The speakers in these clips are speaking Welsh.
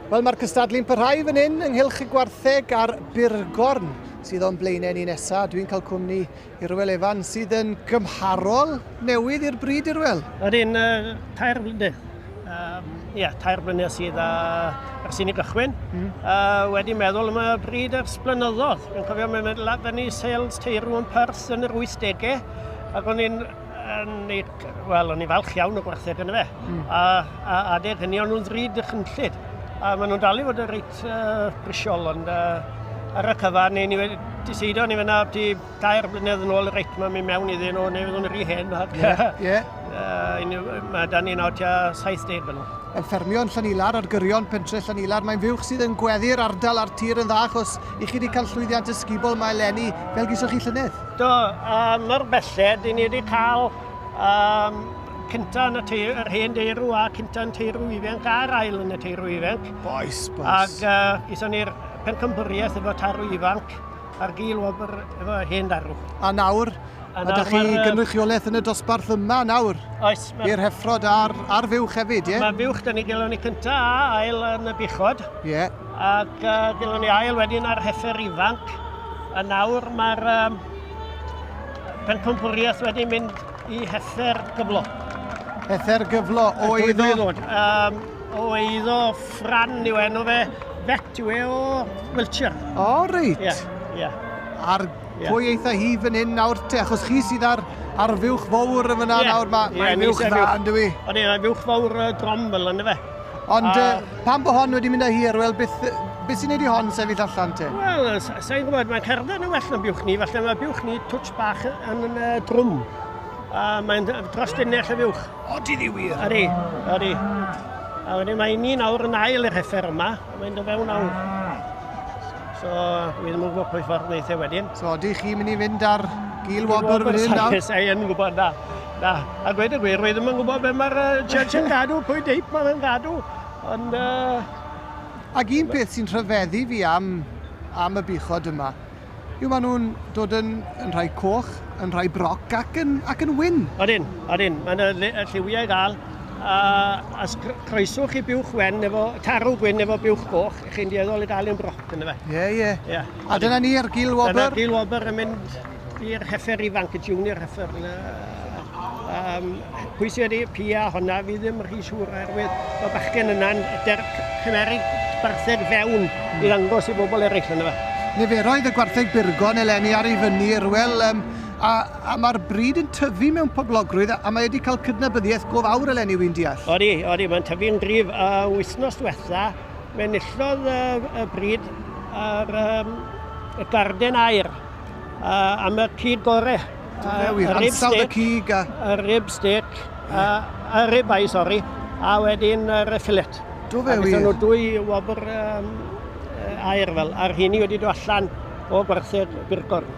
Wel, mae'r cystadlu'n parhau fan hyn ynghylch y gwartheg a'r burgorn sydd o'n blaenau ni nesaf. Dwi'n cael cwmni i Rwel Efan sydd yn gymharol newydd i'r bryd i'r wel. Yr un uh, tair blynedd. Um, Ie, yeah, tair blynedd sydd a, ar sy'n i gychwyn. Mm. Uh, wedi meddwl am y bryd ers blynyddoedd. Dwi'n cofio mae'n mynd lad fyny sales teirw yn Pers yn yr 80au ac o'n i'n Wel, o'n i'n falch iawn o gwartheg yn y fe. Mm. A, a adeg hynny, o'n nhw'n ddrud y chynllid. A maen nhw'n dal i fod yn reit uh, brisiol, ond uh, ar y cyfa, neu ni wedi diseidio ni fyna ti dair blynedd yn ôl reit mae mynd mewn iddyn nhw neu fyddwn rhi hen. Ie, ie. Mae da ni'n awt 70 fan nhw. Yn ffermio yn Llanilar ar gyrion pentre Llanilar, mae'n fuwch sydd yn gweddu'r ardal a'r tir yn dda achos i chi wedi cael llwyddiant ysgubol mae Lenny fel gysoch chi llynedd. Do, um, mor belled, i ni wedi cael um, cynta yn y teir, yr hen deirw a cynta yn teirw ifanc a'r ail yn y teirw ifanc. Boes, boes. Ac uh, ison ni'r pencampwriaeth efo tarw ifanc a'r gil wobr efo hen darw. A nawr, a nawr ydych chi gynrychiolaeth yn y dosbarth yma nawr? Oes. I'r heffrod a'r, ar fuwch hefyd, ie? Yeah? Mae fuwch, da ni gael ni cynta a ail yn y buchod. Ie. Yeah. Ac uh, dylwn ni ail wedyn ar heffer ifanc. A nawr mae'r um, pencampwriaeth wedi mynd i heffer gyflo. Heffer gyflo o eiddo? Ddod, um, o eiddo ffran yw enw fe. Bet yw e o Wiltshire. O, oh, reit. Ie, yeah, ie. Yeah. Ar yeah. pwy eitha hi fan hyn nawr te, achos chi sydd ar, ar fuwch fawr yn fyna yeah. nawr, mae yeah, ma fuwch dda yn dwi. O'n i'n fuwch fawr uh, drom fel yna fe. Ond uh, pan bod hon wedi mynd â hir, wel, beth, beth sy'n neud i hon sefyll allan te? Wel, sa'n gwybod, mae'n cerdded yn well na biwch ni, falle mae biwch ni twtch bach yn y uh, drwm. A mae'n dros dynnell y fiwch. O, di ddi wir? Ydy, ydy. A wedyn mae ni nawr yn ail yr heffer yma, a mae'n dod fewn nawr. So, dwi ddim yn gwybod pwy ffordd wneud e wedyn. So, ydych chi'n mynd i fynd ar gil wobr fan hyn nawr? Saes ei yn gwybod na. Na, a gweud y gwir, rwy ddim yn gwybod beth mae'r Church yn gadw, pwy deip mae fe'n gadw, ond... Uh... Ac un peth sy'n rhyfeddu fi am, am y buchod yma, yw maen nhw'n dod yn, yn rhai coch, yn rhai broc ac yn, ac yn wyn. Odyn, odyn, mae yna lliwiau ddal, a as croeswch i buwch wen efo tarw gwyn efo buwch goch, chi'n dieddol i gael un broc yn y fe. Ie, ie. ie. A dyna ni ar gil wobr? Dyna gil wobr yn mynd I'r heffer ifanc, y junior heffer yna, um, pwy sydd wedi pia honna, fi ddim rhy siŵr oherwydd y bachgen yna'n cymeryd bartheg fewn i ddangos i bobl eraill yna. Niferoedd y gwartheg burgon eleni ar ei fyny, Rwel, um, a, a mae'r bryd yn tyfu mewn poblogrwydd a mae wedi cael cydnabyddiaeth go fawr eleni, wy'n deall. Odi, odi, mae'n tyfu'n gryf. A uh, wythnos diwetha, mae'n nillodd uh, y bryd ar um, y garden air a, am y cig gore. A, wir, ansawdd y cig a... Y rib steak, a, a rib ai, sori, a wedyn yr filet. Do fe wir. Ac nhw dwy wobr um, air fel, a'r hynny wedi dod allan o gwerthu'r birgorn.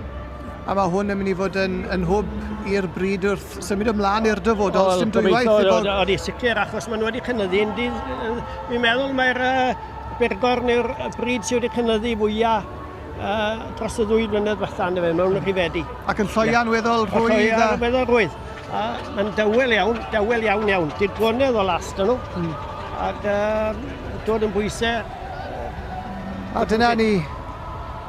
A mae hwn yn mynd i fod yn, yn hwb i'r bryd wrth symud ymlaen i'r dyfodol, oh, sy'n dwywaith. Oedd i sicr, achos maen nhw wedi cynyddu. Fi'n meddwl mae'r uh, birgorn yw'r bryd sydd wedi cynyddu fwyaf uh, dros y ddwy flynedd fatha yna fe, mewn rhifedi. Ac yn lloian weddol rhwydd? Lloian weddol rhwydd. A mae'n dawel iawn, dawel iawn iawn. Digonedd o last yno. Hmm. Ac uh, dod yn bwysau. A dyna ni,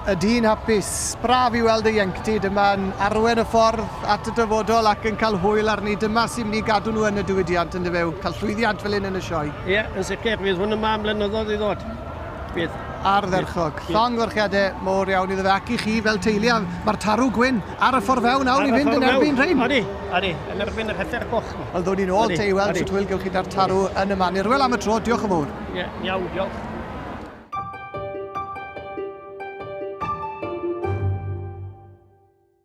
y dyn hapus, braf i weld y ienctid yma'n arwen y ffordd at y dyfodol ac yn cael hwyl arni. Dyma sy'n mynd i gadw nhw yn y diwydiant yn dyfew, cael llwyddiant fel hyn yn y sioe. Ie, yeah, yn sicr, fydd hwn yma am blynyddoedd i ddod. Bydd. Ardderchog. Llongyfarchiadau mor iawn iddo fe ac i chi fel teulu a mae'r tarw gwyn ar y ffordd fewn nawr i fynd yn erbyn rhain. Odi, odi, yn erbyn yr hyder goch. Wel, ddwn i'n ôl te i weld sut hwyl gewch chi da'r tarw yn y manir. Wel, am y tro, diolch yn fawr. Ie, iawn, diolch.